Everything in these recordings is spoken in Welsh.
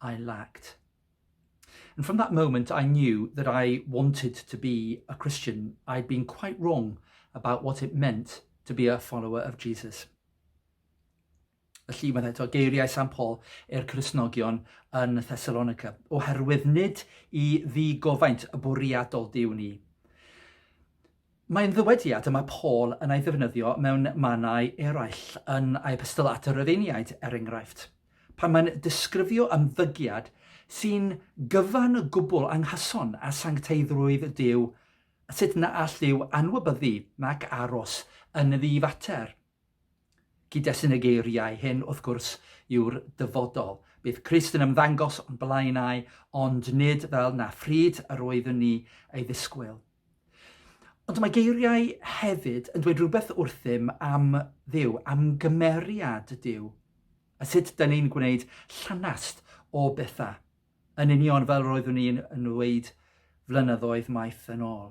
I lacked. And from that moment I knew that I wanted to be a Christian. I'd been quite wrong about what it meant to be a follower of Jesus. Felly mae'n eto geiriau San Paul i'r Cresnogion yn Thessalonica, oherwydd nid i ddi gofaint y bwriadol diw ni. Mae'n ddywediad y mae Paul yn ei ddefnyddio mewn mannau eraill yn ei epistol at y Rhufeiniaid, er enghraifft, pan mae'n disgrifio ymddygiad sy'n gyfan gwbl anghyson â sancteiddrwydd Duw, sut na all Duw anwybyddu nac aros yn ddifater. Cyd-destun y geiriau hyn, wrth gwrs, yw'r dyfodol. Bydd Crist yn ymddangos o'n blaenau, ond nid fel na phryd yr oeddwn ni ei ddisgwyl. Ond mae geiriau hefyd yn dweud rhywbeth wrthym am Dduw, am gymeriad Duw, a sut dyn ni'n gwneud llanast o bethau, yn union fel roeddwn ni'n ddweud flynyddoedd maith yn ôl.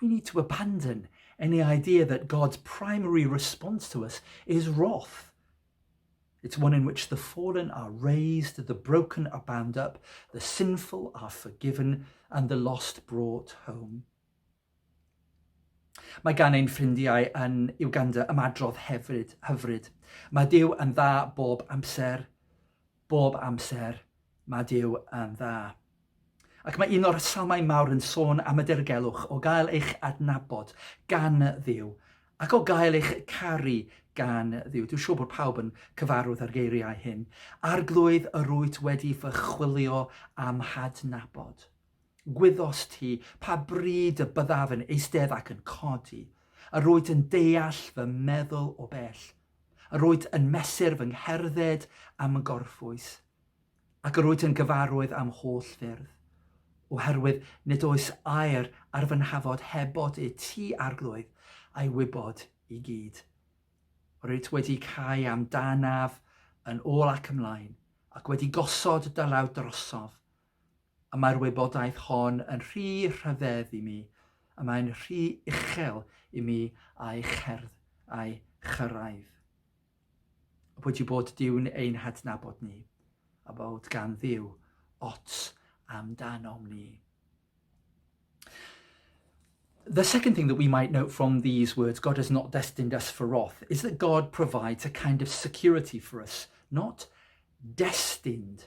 We need to abandon any idea that God's primary response to us is wrath. It's one in which the fallen are raised, the broken are bound up, the sinful are forgiven, and the lost brought home. Mae gan ein ffrindiau yn Uganda ymadrodd hefyd, hyfryd. Mae Dyw yn dda bob amser, Bob amser, mae Duw yn dda. Ac mae un o'r salmau mawr yn sôn am y dirgelwch o gael eich adnabod gan Dduw ac o gael eich caru gan Dduw. Dwi'n siŵr bod pawb yn cyfarwydd â'r geiriau hyn. Arglwydd yr wyt wedi fy chwilio am hadnabod. Gwyddos ti pa bryd y byddaf yn eistedd ac yn codi. Yr wyt yn deall fy meddwl o bell. Yr wyt yn mesur fy ngherdded a'm ngorffwys, ac yr wyt yn gyfarwydd a'm holl ffyrdd, oherwydd nid oes air ar fy nhafod heb bod i ti arglwydd a'i wybod i gyd. Yr wyt wedi cau am danaf yn ôl ac ymlaen, ac wedi gosod dy law drosof, A mae'r wybodaeth hon yn rhy rhyfedd i mi, a mae'n rhy uchel i mi a'i cherdd a'i chyrraedd. A pwy ti bod diwn ein hadnabod ni, a bod gan ddiw ots amdanom ni. The second thing that we might note from these words, God has not destined us for wrath, is that God provides a kind of security for us, not destined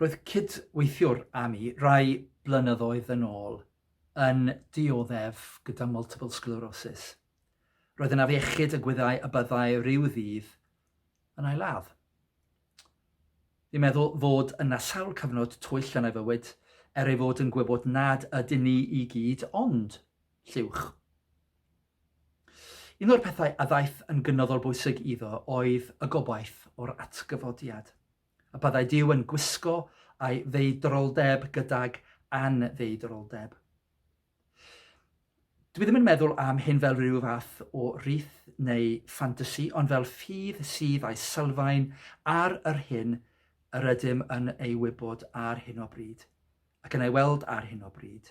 Roedd cydweithiwr â mi rai blynyddoedd yn ôl yn dioddef gyda multiple sclerosis. Roedd yn afiechyd y gwyddai y byddai rhyw ddydd yn ailad. Fi'n meddwl fod yna sawl cyfnod twyll yn ei fywyd, er ei fod yn gwybod nad ydyn ni i gyd ond lliwch. Un o'r pethau a ddaeth yn gynyddol bwysig iddo oedd y gobaith o'r atgyfodiad, y byddai Dyw yn gwisgo a'i ddeudroldeb gydag anddeudroldeb. Dwi ddim yn meddwl am hyn fel rhyw fath o rith neu ffantasi, ond fel ffydd sydd a'i sylfaen ar yr hyn yr ydym yn ei wybod ar hyn o bryd, ac yn ei weld ar hyn o bryd,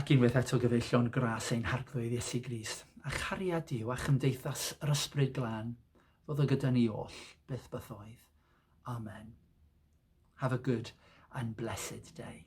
Ac unwaith eto gyfeillion gras ein Harglwydd Iesu Grist, a chariad Duw a chymdeithas yr Ysbryd Glân, ddod o gyda ni oll, byth bythoedd. Amen. Have a good and blessed day.